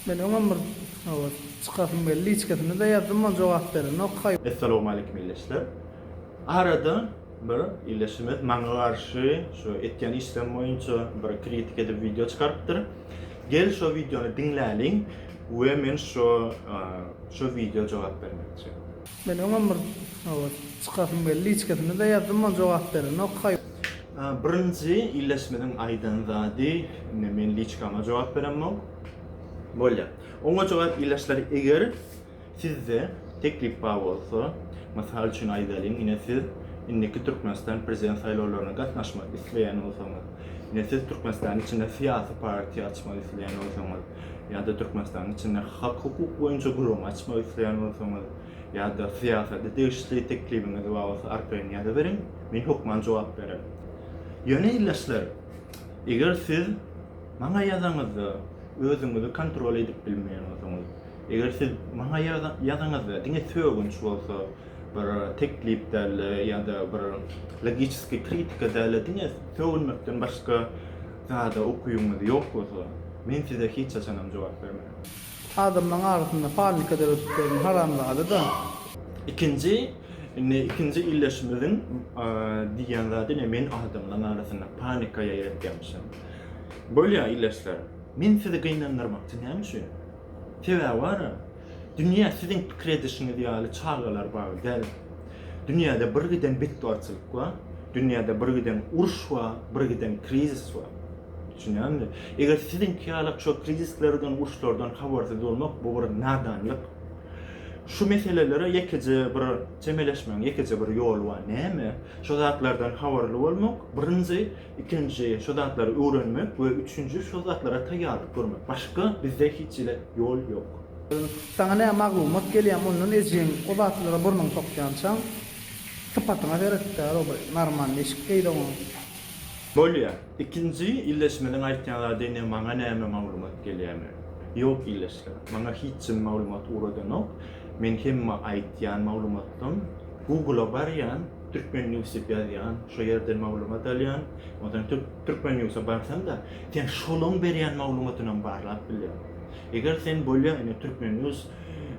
Men öňem bir owaz çykasym geldi liçkasynada ýazdym ol jogap berenok haý. Essalowmaleýkim ildeşler. Arada bir ildeşimiz maňa garşy şu etýän işlerim boýunça bir kritik edip wideo çykarypdyr. Gel şo wideony diňläliň we men şo şo wideo jogap bermekçi. Men oňam bir habar çykasym geldi içgesinde-de ýazdym ol jogap berenok. Birinji illeşmediň aýdan zady ine men liçkama jogap beremok. Bolýa. Oňa jogap illeşler eger sizde teklip bar bolsa mysal üçin aýdalyň ine siz indiki Türkmenistan prezident saýlawlaryna gatnaşmak isleýän bolsaňyz ine siz Türkmenistanyň içinde syýasy partiýa açmak isleýän bolsaňyz ýa-da Türkmenistanyň içinde hak-hukuk boýunça gurama açmak isleýän bolsaňyz, ýa-da syýasata degişli teklibiňiz bar bolsa arkaýyn ýazyberiň, men hökman jogap bererin. Ýöne ildeşler, eger siz maňa ýazaňyzda özüňizi kontrol edip bilmeýän bolsaňyz, eger siz maňa ýazaňyzda diňe sögünç bolsa, bir teklip däl-de ýa-da bir logiçeski kritika däl-de diňe sögünmekden başga Zada ukybyňyz ýok bolsa, men size hiç haçanam jogap bermerin. Adamlaň arasynda panika döredip ýören haramzada-da. Ikinji, indi ikinji ildeşimiziň diýýän zady ine men adamlaň arasynda panika ýaýratýamyşyn. Bolýa ildeşler, men sizi gynandyrmakçy näme üçin? Sebäbi bara. Dünýä siziň pikir edişiňiz ýaly çagalar bagy däl. Dünýäde bir giden betbagtçylyk bar, dünýäde bir giden uruş bar, bir giden krizis bar. Düşünýäňizmi? Eger siziňki ýalak şo krizislerden, uruşlardan habarsyz bolmak bu bir nadanlyk. Şu meselelere ýekeje bir çemeleşmegiň ýekeje bir ýoly bar. Näme? Şo zatlardan habarly bolmak, birinji Ikinji, şo zatlary öwrenmek we üçünji, şo zatlara taýýarlyk görmek. Başga bizde hiç hili ýol ýok. Saňa nä maglumat gelýär mundan ejeň o zatlara burnuňy sokýançaň sypatyňa seret däl o bir narman deşik beýle oň. Bolýa. Ikinji, illeşmeliň aýtýan zady ine maňa näme maglumat gelýärmi? Ýok illeşler. Maňa hiç jim maglumat ugradanok. Men hemme aýtýan maglumatdan Google-a barýan. Türkmen news diýip ýazýan, şo ýerden maglumat alýan. Onsoň Türkmen newsa barsaň-da, sen şolaň berýän maglumatynam barlap bilýäň. Eger sen bolýa ine Türkmen news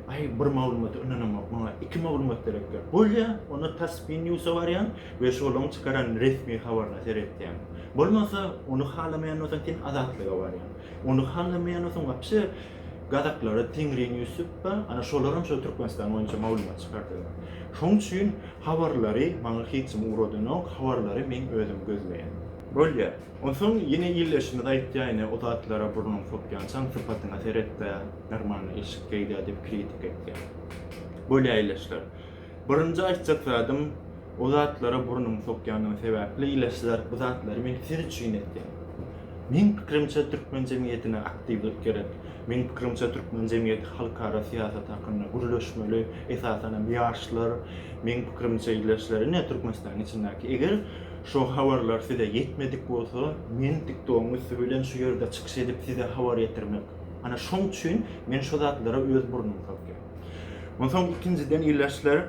aý bir maglumata ynanamok, maňa iki maglumat gerek diýip bolýa, onda Tasspin newsa barýaň we şolaň çykaran resmi habaryna seretýäň. Bolmasa, ony halamaýan bolsaň sen Azatlyga barýaň. Ony halamaýan bolsaň wapşe gazaklara Tengrinews diýip bar, ana şolaram şo Türkmenistan boýunça maglumat çykardylar. Şoň üçin Habarlary maňa hiç kim ugradanok, habarlary meň özüm gözleýän. Bolýa. Onsoň ýene ildeşimiz aýtýaýny o zatlara burnuň sokýançaň sypatyňa seretdä, normalny eşik geýdä diýip kritik etýä. Bolýa ildeşler. Birinji aýtjak zadym o zatlara burnuň sokýanyň sebäpli ildeşler bu zatlary men siz üçin etýän. Meň pikirimçe türkmen jemgyýetine aktiwlik gerek. Meň pikirimçe türkmen jemgyýeti halkara syýasat hakynda gürleşmeli, esasan hem ýaşlar, meň pikirimçe ýleşler ine türkmenistanyň içindäki eger şo habarlar size ýetmedik bolsa men tiktogyň üsti bilen şu ýerde çykyş edip size habar ýetirmek ana şoň üçin men şo zatlara öz burnumy sokýan onsoň ikinjiden ýleşler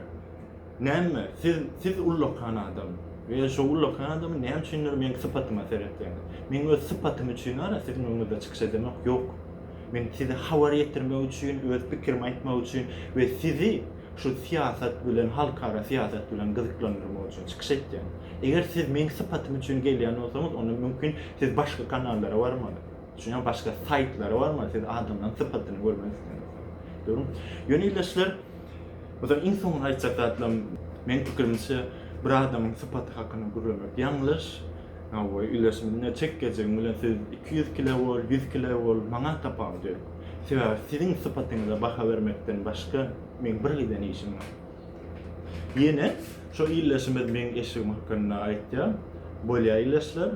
Näme, siz, siz ullakan adam we şo ullakan adamyň näme üçindir meň sypatyma seretýäňiz. Meň öz sypatym üçin-ara siziň öňüňizde çykyş edemok, ýok. Men size habar ýetirmek üçin, öz pikirimi aýtmak üçin we sizi şu syýasat bilen, halkara syýasat bilen gyzyklandyrmak üçin çykyş etýän. Eger siz meň sypatym üçin gelýän bolsaňyz, onda mümkin siz başga kanallara barmaly. Düşünýäňizmi? Başga saýtlara barmaly, siz adamlaryň sypatyny görmek isleňizde. Dogrumy? Ýöne ildeşler, O zaman iň soňundan aýtjak zatlarym, meň pikirimçe, bir adamyň sypaty hakynda gürlemek ýalňyş. Hawa, ileşminde çek geljegiň bilen siz iki ýüz kile bol, ýüz kile bol, maňa tapawudy ýok. Sebäbi siziň sypatyňyza baha bermekden başga meň bir giden işim bar. Ýene şo ileşimiz meň eşigim hakynda aýtýar. Bolýa ileşler.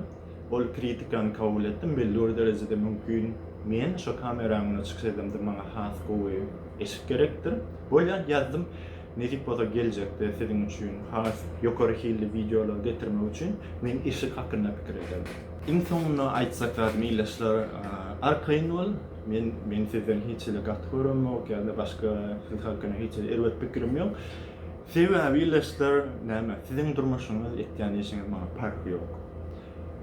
Ol kritikany kabul etdim, bellibir derejede mümkin men şo kameraň öňünde çykyş edemde maňa has gowy eşik gerekdir. Bolýar ýazdym. Nesip bolsa geljekde siziň üçin has ýokary hilli wideolar getirmek üçin men eşik hakynda pikir ederin. Iň soňunda aýtjak zadym ildeşler arkaýyn bol men men sizden hiç hili gaty göremok ýa-da başga siz hakynda hiç hili erbet pikirim ýok. Sebäbi ildeşler näme siziň durmuşyňyz etýän işiňiz maňa parhy ýok.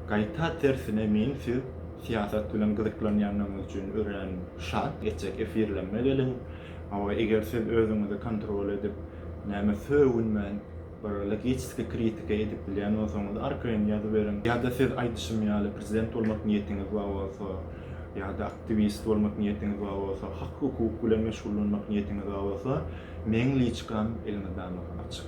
Gaýta tersine men siz syýasat bilen gyzyklanýandygyňyz üçin örän şat etjek efirlerime geliň. Hawa eger siz özüňizi kontrol edip näme sögünmän bir logiçiski kritika edip bilýän bolsaňyz arkaýyn ýazyberiň. Ýa-da siz aýdyşym ýaly prezident bolmak niýetiňiz bar bolsa, ýa-da aktiwist bolmak niýetiňiz bar bolsa, hak-hukuk bilen meşgullanmak niýetiňiz bar bolsa, meň liçkam elmydama açyk.